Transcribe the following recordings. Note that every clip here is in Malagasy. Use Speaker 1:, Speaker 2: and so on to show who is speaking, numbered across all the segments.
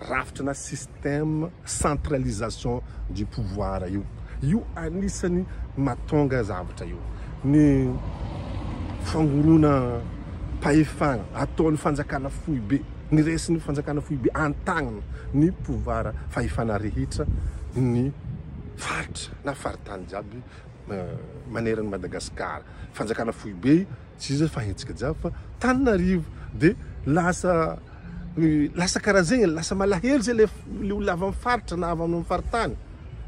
Speaker 1: rafitra na système centralisation du pouvoir io. Io anisany matonga zavatra io. Ny fangorona pahefana ataon'ny fanjakana foibe, ny resin'ny fanjakana foibe antagnina ny pouvoir fahefana rehetra ny faritra na faritany jiaby maneran'i Madagasikara. Fanjakana foibe tsy izay fa hetsika jiaby fa taninarivo de lasa lasa karaha zegny lasa malahelo zay le le olona avy amin'ny faritra na avy amin'ny faritany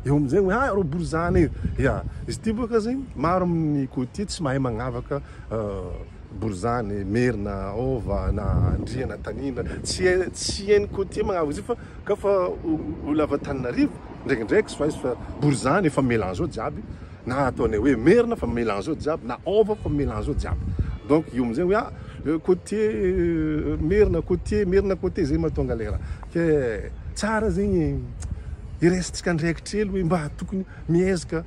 Speaker 1: eo amin'izegny hoe ah reo borizana e ya izy ty boka zegny maro amin'ny côtier tsy mahay magnavaka euh, borizany merina hôva na andriana tanindra tsy hay tsy hain'ny côtier magnavaka izy io fa ka fa olona avy antaninarivo ndraikindraiky tsy fa izy fa borizany efa melange ao jiaby na ataonay hoe merina fa mila an'izao jiaby na ôva fa mila an'izao jiaby donc io amin'izay hoe ah côtier merina côtier merina côtier zay mahatonga ilay raha ke tsara zegny e iresintsika andraikitra hely hoe mba tokony miezaka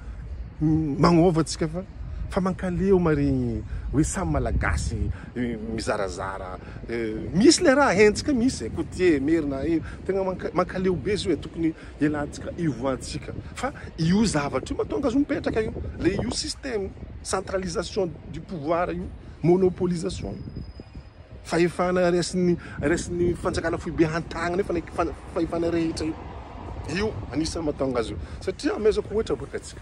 Speaker 1: magnôva antsika fa fa mankaleo maregny hoe samy malagasy mizarazara misy le raha hentsika misy e côtier merina tegna mankaleo be zio e tokony Dia latsaka hivoahantsika fa io zavatra io matonga zo mipetraka io le io système centralisation du pouvoir io monopolisation io fahefana resin'ny resin'ny fanjakana foibe hantagna nefa ny fahefana rehetra io io anisan'ny matonga azy io satria amezako ohatra boka atsika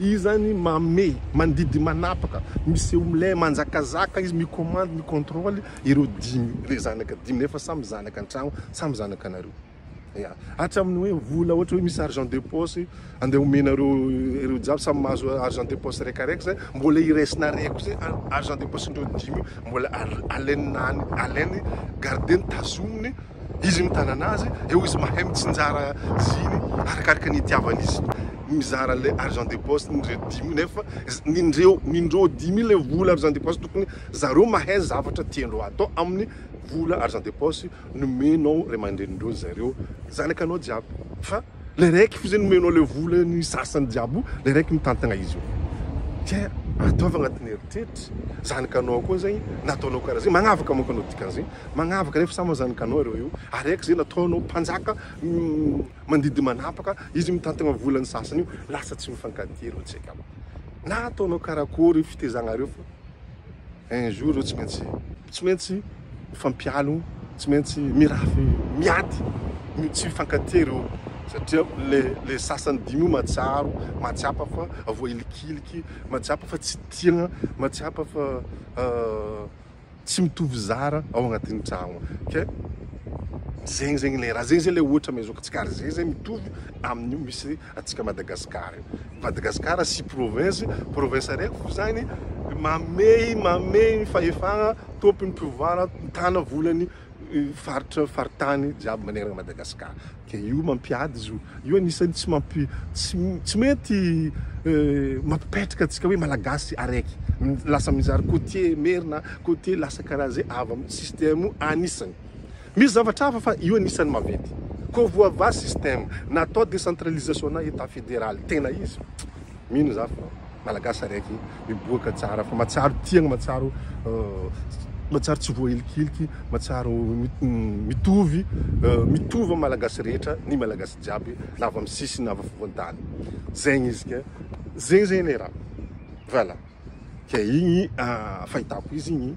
Speaker 1: Izy zany mame, mandidy manapaka, miseho milay, manjakazaka izy, mi-commande, mi-controle ireo dimy re zanaka dimy nefa samy zanaka an-tragno, samy zanakanareo. Ya, hatramin'ny hoe vola ohatra hoe misy argent de poche andeha omenareo ireo jiaby samy mahazo argent de poche raika raika zay, mbola iraisinareo koa zay argent de poche-ndreo dimy io mbola alainy, alainy, gardeny, tazominy, izy mitana anazy eo izy mahay mitsinjara ziny arakaraka ny itiavany izy mizara le argent de poste ny reo dimy nefa nindreo nindreo dimy le vola argent de poste tokony zareo mahay zavatra tiandreo atao amin'ny vola argent de poste nomenao ray aman-drenin-dreo zareo zanaka anao jiaby fa Ilay raiky fotsiny omenao ilay vola ny sasany jiaby ilay raiky mitantagna izy eo dia ataovy agnatin'ny eritreritra zanakanao koa zay nataonao karaha zay magnavaka manko anao dikan'izay magnavaka nefa samy zanakanao ireo io ary raiky zay nataonao mpanjaka mandidy manapaka izy mitantagna vola ny sasany io lasa tsy mifankatia ireo tsy haiko na ataonao karakory fitezagnareo fa Un jour eo tsy maintsy tsy maintsy mifampialo, tsy maintsy mirafy miady ny tsy fifankatia ireo satria le le sasany dimy io mahatsiaro, mahatsapa fa voailikiliky, mahatsapa fa tsy tiana, mahatsapa fa tsy mitovy zara ao agnatin'ny tragno ke zegny zegny le raha zegny zegny le ohatra amezoako antsika ary zegny zegny mitovy amin'io misy antsika Madagascar io. Madagascar sy province, province araiky fo zany mamehy mamehy ny fahefagna tompony mpiovara mitana volany faritra faritany jiaby manerana Madagascar de io mampiady izy io io anisany tsy mampi tsy tsy mety mampipetraka antsika hoe malagasy araiky lasa mizary cotier merina cotier lasa karaha ze avy am système io anisany Misy zavatra hafa fa io anisany maventy. Koa voavaha système. Natao décentralisation na état fédéral tena izy. Mino za fa Malagasy araiky miboaka tsara fa matsiaro tiagna matsiaro matsiaro tsy voahilikiliky matsiaro mitovy mitovy am Malagasy rehetra ny Malagasy jiaby na avy am sisiny na avy afovoantany. Zegny izy ke. Zegny zegny le raha. Voilà. Ke igny fahitako izy igny.